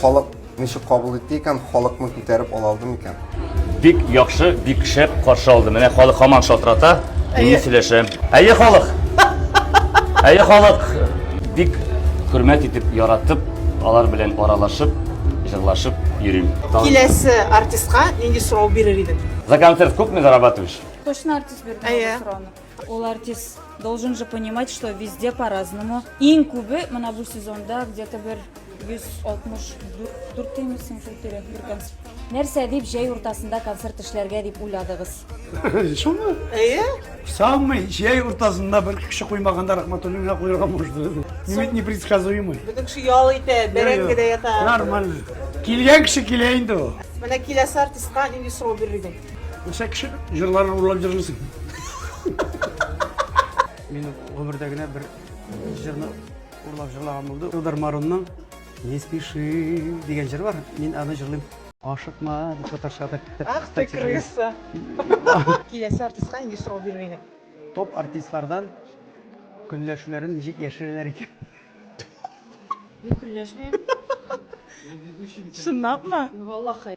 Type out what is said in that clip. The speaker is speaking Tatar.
Халык ничек кабул итте икән, халыкны күтәреп ала алды микән? Бик яхшы, бик шәп каршы алды. Менә халык хаман шалтырата, мин сөйләшә. Әйе халык! Әйе халык! Бик хөрмәт итеп, яратып, алар белән аралашып, җырлашып йөрим. Киләсе артистка нинди сорау бирер идең? За концерт күпме зарабатываешь? Точно артист бирде Әйе. сорауны. Ул артист должен же понимать, что везде по-разному. Иң күбе мына бу сезонда где-то бер 164 тимисең шул тирә бер концерт. Нәрсә дип җәй уртасында концерт эшләргә дип уйладыгыз? Шуны? Әйе. Самый җәй уртасында бер кеше куймаганда Рахматуллинга куйырга можно. Мин непредсказуемый. Бөтен кеше ял итә, бәрәңгедә ята. Нормально. Килгән кеше килә инде ул. Менә киләсе артистка нинди сорау бирер идең? Нәрсә кеше җырларын урлап җырлыйсың? Мин гомердә генә бер җырны урлап җырлаган булды. Илдар Марунның Не спеши дигән җыр бар. Мин аны җырлыйм. Ашыкма дип татарча атап. Ах ты крыса. Киләсе артистка нинди сорау бирер идең? Топ артистлардан көнләшүләрен ничек яшерәләр икән? Мин көнләшмим. Чынлапмы? Валлахи.